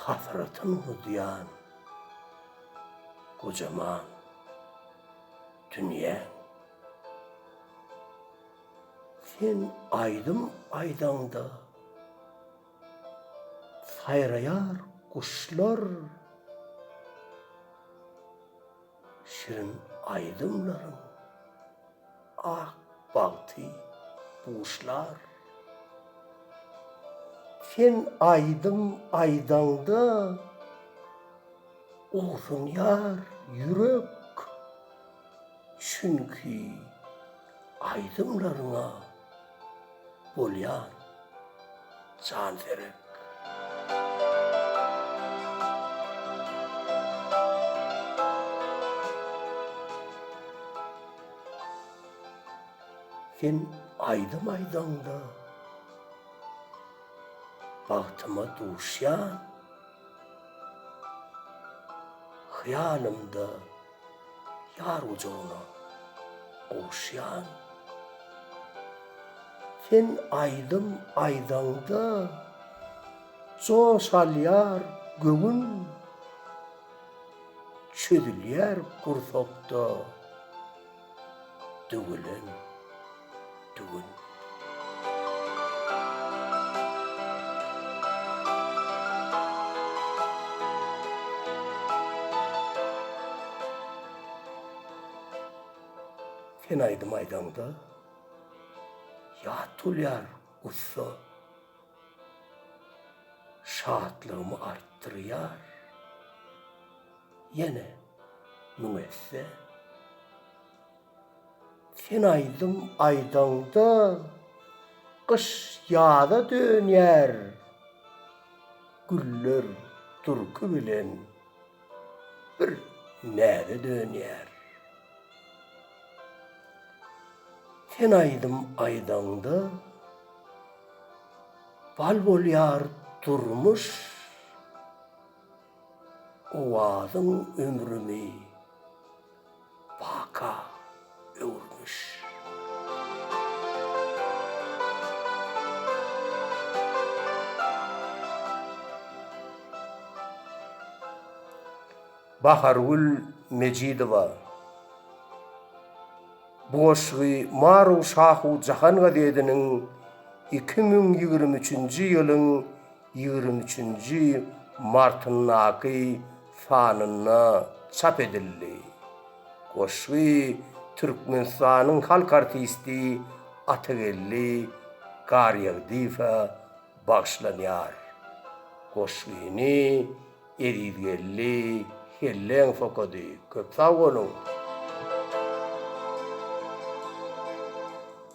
Hasratyn udýan gojaman dünýäň. Sen aýdym aýdaňda saýraýar guşlar. Şirin aýdymlaryň ak bagty buşlar. Sen aýdym aýdaňda ogsunýar ýürek, çünki aýdymlaryňa. Bolýar jan serek. Sen aýdym aýdaňda bagtyma duşýan, hyýalymda. Ýar gujagyna gowuşýan. Sen aýdym aýdaňda, joş alýar göwün. Çözülýär gursakda döwelen. Tüwin. Sen aýdym aýdaňda ýat bolýar gussa şatlygymy artdyrýar ýene müň esse. Sen aýdym aýdaňda gyş ýaza dönýär, güller durky bilen bir näze dönýär. Sen aýdym aýdaňda bal bolýar durmuş, owazyň ömrümi. baka öwürmiş. Bahargül Mejidowa bu goşgy Maru Şahu jahan gazediniň iki müň ýigrimi üçünji ýylyň ýigrimi üçünji martyndaky sanynda çap edildi. Goşgy Türkmenistanyň halk artisti Atageldi Garýagdyýewe bagyşlanýar. Goşgyny Ezizgeldi Helleňow okady. Köp sag boluň!